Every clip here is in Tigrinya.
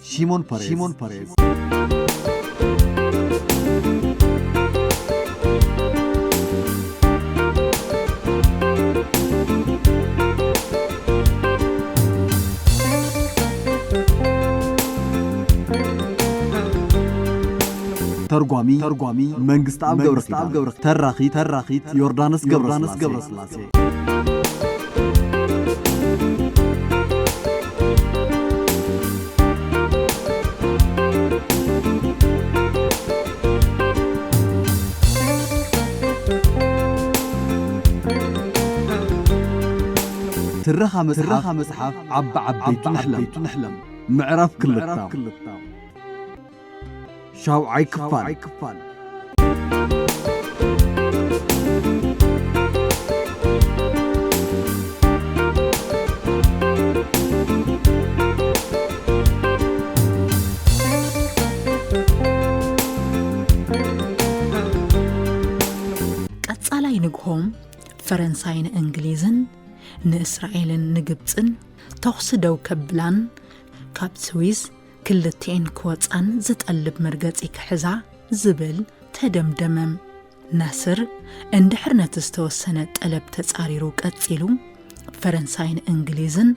Simon Perez. Simon Perez. ተርጓሚ ተርጓሚ መንግስት ኣብ ገብረ ተራኺት ተራኺት ዮርዳኖስ ገብረ ትረኻ መጽሓፍ ዓቢ ዓበይቱ ንሕለም ምዕራፍ ክልተ ሻውዓይ ክፋል ቀጻላይ ንግሆም ፈረንሳይ ንእንግሊዝን ንእስራኤልን ንግብፅን ተኹሲ ደው ከብላን ካብ ስዊዝ ክልቲኤን ክወጻን ዝጠልብ መርገጺ ክሕዛ ዝብል ተደምደመም። ናስር እንድሕር ነቲ ዝተወሰነ ጠለብ ተጻሪሩ ቀጺሉ፣ ፈረንሳይን እንግሊዝን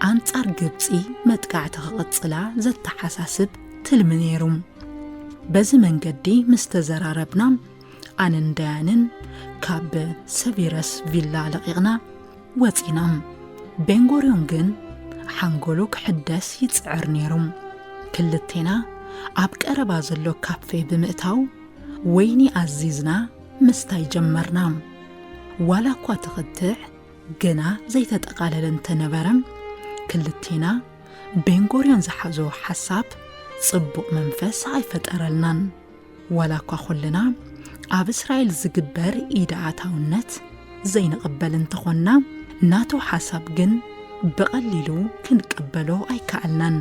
ኣንጻር ግብጺ መጥቃዕቲ ክቕጽላ ዘተሓሳስብ ትልሚ ነይሩ። በዚ መንገዲ ምስ ተዘራረብና ኣነን ዳያንን ካብ ሰቪረስ ቪላ ለቒቕና ወጺና። ቤንጎርዮን ግን ሓንጎሉ ክሕደስ ይጽዕር ነይሩ። ክልቴና ኣብ ቀረባ ዘሎ ካፌ ብምእታው ወይኒ ኣዚዝና ምስታይ ጀመርና። ዋላ እኳ ትኽትዕ ግና ዘይተጠቓለለ እንተነበረ ክልቴና ቤንጎርዮን ዝሓዞ ሓሳብ ጽቡቕ መንፈስ ኣይፈጠረልናን። ዋላ እኳ ኩልና ኣብ እስራኤል ዝግበር ኢድ ኣታውነት ዘይንቕበል እንተኾንና ናቱ ሓሳብ ግን ብቐሊሉ ክንቀበሎ ኣይከኣልናን።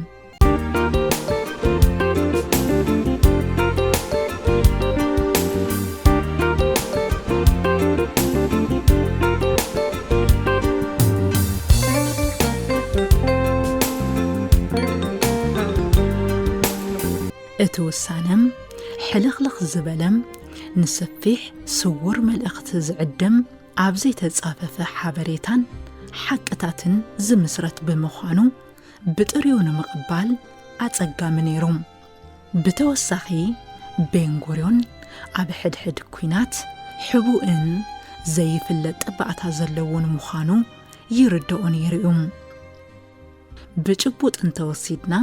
እቲ ውሳነም ሕልኽልኽ ዝበለም ንሰፊሕ ስውር መልእኽቲ ዝዕድም ኣብ ዘይተጻፈፈ ሓበሬታን ሓቅታትን ዝምስረት ብምዃኑ ብጥሪኡ ንምቕባል ኣጸጋሚ ነይሩ። ብተወሳኺ ቤንጉርዮን ኣብ ሕድሕድ ኲናት ሕቡእን ዘይፍለጥ ጠባዕታ ዘለዎን ምዃኑ ይርድኦ ነይሩ እዩ። ብጭቡጥ እንተወሲድና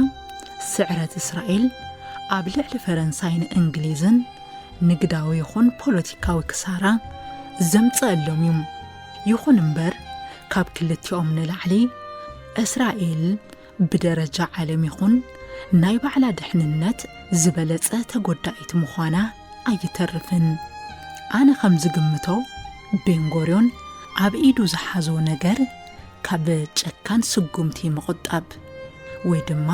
ስዕረት እስራኤል ኣብ ልዕሊ ፈረንሳይን እንግሊዝን ንግዳዊ ይኹን ፖለቲካዊ ክሳራ ዘምፀኣሎም እዩ ይኹን እምበር ካብ ክልቲኦም ንላዕሊ እስራኤል ብደረጃ ዓለም ይኹን ናይ ባዕላ ድሕንነት ዝበለፀ ተጎዳኢት ምዃና ኣይተርፍን ኣነ ከም ዝግምቶ ቤንጎርዮን ኣብ ኢዱ ዝሓዞ ነገር ካብ ጨካን ስጉምቲ ምቑጣብ ወይ ድማ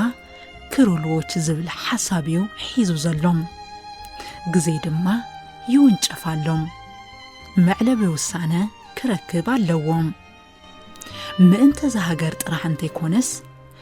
ክሩልዎች ዝብል ሓሳብ እዩ ሒዙ ዘሎ። ግዜ ድማ ይውንጨፍ ኣሎ። መዕለቢ ውሳነ ክረክብ ኣለዎ። ምእንተ እዛ ሃገር ጥራሕ እንተይኮነስ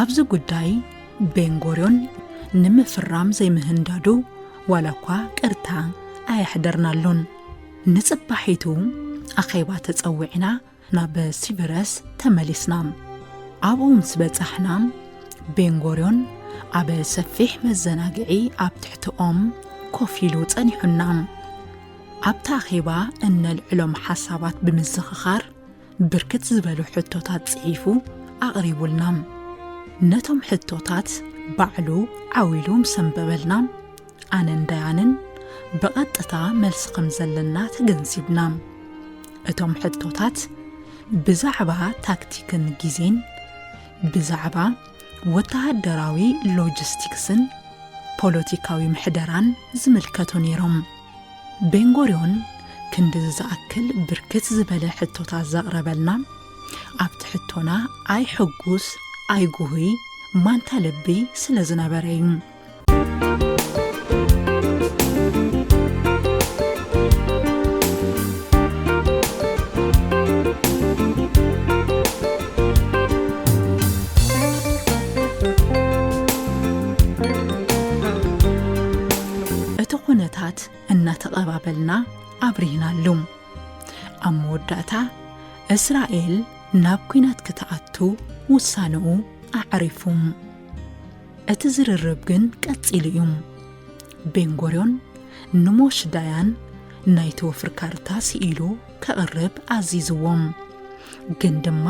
ኣብዚ ጉዳይ ቤንጎርዮን ንምፍራም ዘይምህንዳዱ ዋላ እኳ ቅርታ ኣየሕደርናሉን። ንጽባሒቱ ኣኼባ ተጸዊዕና ናብ ሲብረስ ተመሊስና። ኣብኡ ምስ በጻሕና ቤንጎርዮን ኣብ ሰፊሕ መዘናግዒ ኣብ ትሕቲ ኦም ኮፍ ኢሉ ጸኒሑና። ኣብቲ ኣኼባ እነልዕሎም ሓሳባት ብምዝኽኻር ብርክት ዝበሉ ሕቶታት ጽሒፉ ኣቕሪቡልና ነቶም ሕቶታት ባዕሉ ዓው ኢሉ ምስ ኣንበበልና ኣነን ዳያንን ብቐጥታ መልሲ ከም ዘለና ተገንዚብና እቶም ሕቶታት ብዛዕባ ታክቲክን ግዜን ብዛዕባ ወተሃደራዊ ሎጂስቲክስን ፖለቲካዊ ምሕደራን ዝምልከቱ ነይሮም ቤንጎርዮን ክንድዚ ዝኣክል ብርክት ዝበለ ሕቶታት ዘቕረበልና ኣብቲ ሕቶና ኣይ ሕጉስ ኣይ ጉሁይ ማንታ ልቢ ስለ ዝነበረ እዩ እቲ ኹነታት እናተቐባበልና ኣብሪህናሉ። ኣብ መወዳእታ እስራኤል ናብ ኲናት ክትኣቱ ውሳነኡ ኣዕሪፉ። እቲ ዝርርብ ግን ቀጺሉ እዩ። ቤንጎርዮን ንሞሽ ዳያን ናይቲ ወፍሪ ካርታ ስኢሉ ከቕርብ ኣዚዝዎም ግን ድማ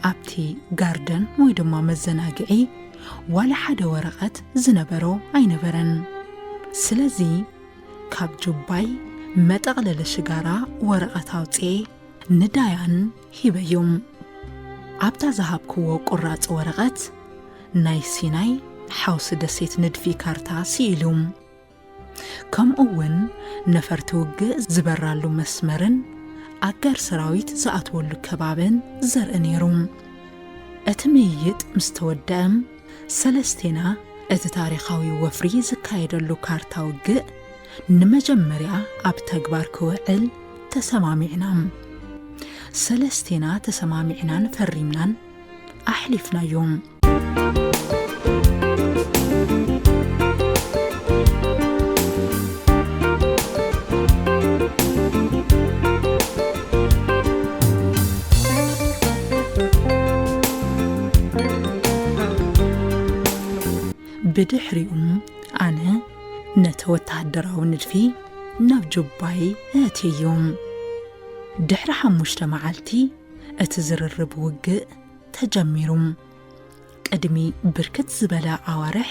ኣብቲ ጋርደን ወይ ድማ መዘናግዒ ዋላ ሓደ ወረቐት ዝነበሮ ኣይነበረን ስለዚ ካብ ጁባይ መጠቕለሊ ሽጋራ ወረቐት ኣውፅኤ ንዳያን ሂበዮም ኣብታ ዝሃብክዎ ቁራፅ ወረቐት ናይ ሲናይ ሓውሲ ደሴት ንድፊ ካርታ ስኢሉ ከምኡ እውን ነፈርቲ ውግእ ዝበራሉ መስመርን ኣጋር ሰራዊት ዝኣትወሉ ከባብን ዘርኢ ነይሩ። እቲ ምይይጥ ምስ ተወደእም ሰለስቴና እቲ ታሪኻዊ ወፍሪ ዝካየደሉ ካርታ ውግእ ንመጀመርያ ኣብ ተግባር ክውዕል ተሰማሚዕና። ሰለስቴና ተሰማሚዕናን ፈሪምናን ኣሕሊፍናዮም። ብድሕሪኡ ኣነ ነቲ ወተሃደራዊ ንድፊ ናብ ጁባይ ኣእትየዮ ድሕሪ ሓሙሽተ መዓልቲ እቲ ዝርርብ ውግእ ተጀሚሩ። ቅድሚ ብርክት ዝበለ ኣዋርሕ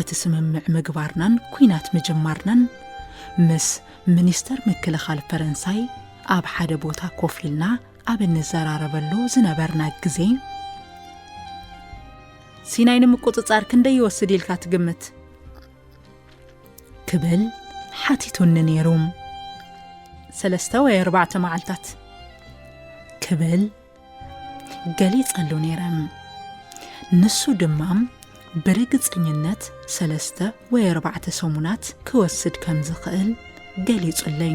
እቲ ስምምዕ ምግባርናን ኩናት ምጅማርናን ምስ ሚኒስተር ምክልኻል ፈረንሳይ ኣብ ሓደ ቦታ ኮፍ ኢልና ኣብ እንዘራረበሉ ዝነበርና ግዜ ሲናይ ንምቁፅፃር ክንደይ ይወስድ ኢልካ ትግምት? ክብል ሓቲቱኒ ነይሩ። ሰለስተ ወይ ኣርባዕተ መዓልታት ክብል ገሊጸሉ ነይረ። ንሱ ድማ ብርግጽኝነት ሰለስተ ወይ ኣርባዕተ ሰሙናት ክወስድ ከም ዝኽእል ገሊጹለይ።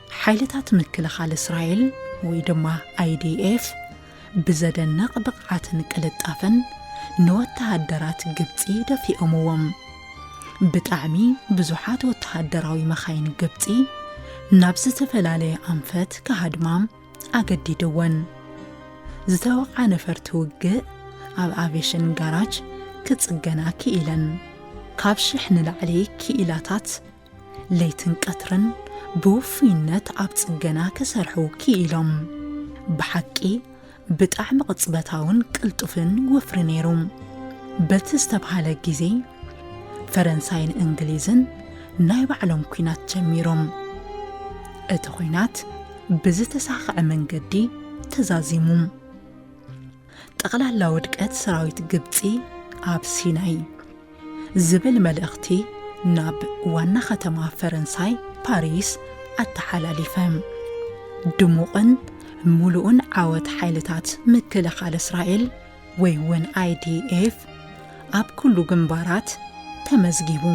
ሓይልታት ምክልኻል እስራኤል ወይ ድማ IDF ብዘደንቕ ብቕዓትን ቅልጣፈን ንወተሃደራት ግብፂ ደፊኦምዎም። ብጣዕሚ ብዙሓት ወተሃደራዊ መኻይን ግብፂ ናብ ዝተፈላለየ ኣንፈት ክሃድማ ኣገዲድወን። ዝተወቕዓ ነፈርቲ ውግእ ኣብ ኣቬሽን ጋራጅ ክፅገና ክኢለን። ካብ ሽሕ ንላዕሊ ክኢላታት ለይትን ቀትርን ብውፍይነት ኣብ ጽገና ክሰርሑ ክኢሎም። ብሓቂ ብጣዕሚ ቅጽበታውን ቅልጡፍን ወፍሪ ነይሩ። በቲ ዝተብሃለ ግዜ ፈረንሳይን እንግሊዝን ናይ ባዕሎም ኩናት ጀሚሮም። እቲ ኩናት ብዝተሳኸዐ መንገዲ ተዛዚሙ። ጠቕላላ ውድቀት ሰራዊት ግብፂ ኣብ ሲናይ ዝብል መልእኽቲ ናብ ዋና ከተማ ፈረንሳይ ፓሪስ ኣተሓላሊፈ። ድሙቕን ሙሉእን ዓወት ሓይልታት ምክልኻል እስራኤል ወይ እውን ኣይዲኤፍ ኣብ ኩሉ ግንባራት ተመዝጊቡ።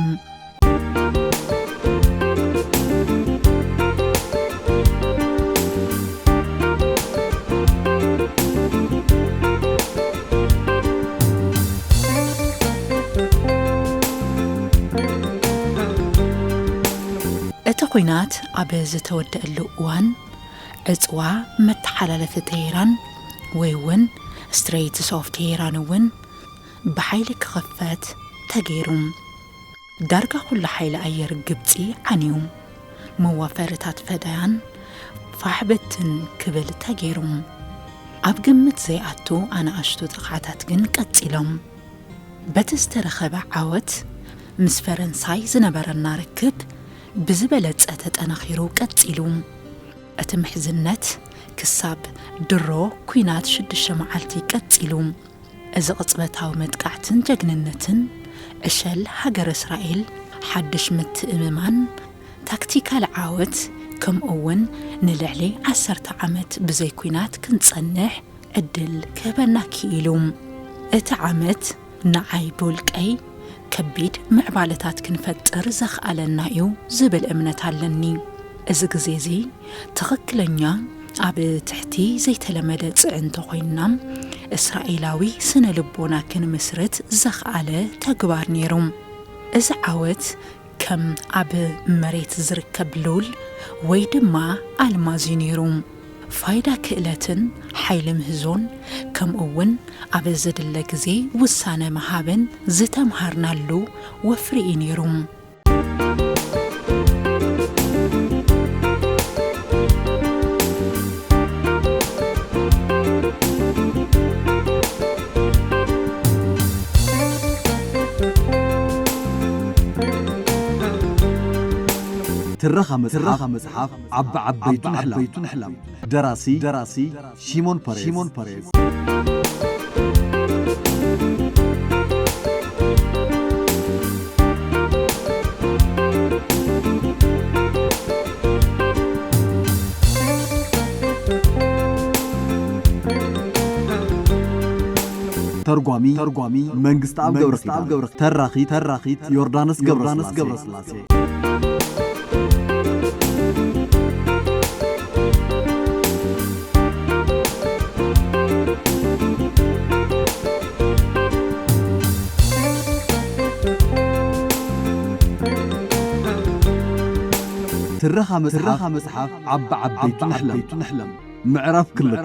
ኲናት ኣብ ዝተወደአሉ እዋን ዕፅዋ መተሓላለፊ ቴሄራን ወይ እውን ስትሬትስ ኦፍ ቴሄራን እውን ብሓይሊ ክኽፈት ተገይሩ። ዳርጋ ኩሉ ሓይሊ ኣየር ግብጺ ዓንዩ። መዋፈሪታት ፈዳያን ፋሕ ብትን ክብል ተገይሩ። ኣብ ግምት ዘይኣቱ ኣናእሽቱ ጥቕዓታት ግን ቀጺሎም። በቲ ዝተረኸበ ዓወት ምስ ፈረንሳይ ዝነበረና ርክብ ብዝበለጸ ተጠናኺሩ ቀጺሉ። እቲ ምሕዝነት ክሳብ ድሮ ኲናት ሽዱሽተ መዓልቲ ቀጺሉ። እዚ ቅጽበታዊ መጥቃዕትን ጀግንነትን ዕሸል ሃገረ እስራኤል ሓድሽ ምትእምማን፣ ታክቲካል ዓወት፣ ከምኡ'ውን ንልዕሊ ዓሰርተ ዓመት ብዘይ ኲናት ክንጸንሕ ዕድል ክህበና ክኢሉ። እቲ ዓመት ንዓይ ብውልቀይ ከቢድ ምዕባለታት ክንፈጥር ዘኽኣለና እዩ ዝብል እምነት ኣለኒ። እዚ ግዜ እዚ ትኽክለኛ ኣብ ትሕቲ ዘይተለመደ ፅዕንቶ ኮይንና እስራኤላዊ ስነ ልቦና ክንምስርት ዘኽኣለ ተግባር ነይሩ። እዚ ዓወት ከም ኣብ መሬት ዝርከብ ሉል ወይ ድማ ኣልማዝ እዩ ነይሩ። ፋይዳ ክእለትን ሓይሊ ምህዞን ከምኡ እውን ኣብ ዝድለ ግዜ ውሳነ ምሃብን ዝተምሃርናሉ ወፍሪ እዩ ነይሩ። ትረኻ መጽሓፍ፣ ዓቢ ዓበይቱን ዓበይቱን ኣሕላም ደራሲ ደራሲ ሺሞን ፐሬዝ ሺሞን ፐሬዝ ተርጓሚ ተርጓሚ መንግስቲ ኣብ ገብረ ገብረ ተራኺ ተራኺት ዮርዳኖስ ገብረ ገብረ ትረኻ መጽሓፍ ዓቢ ዓበይቱ ንሕለም ምዕራፍ ክልተ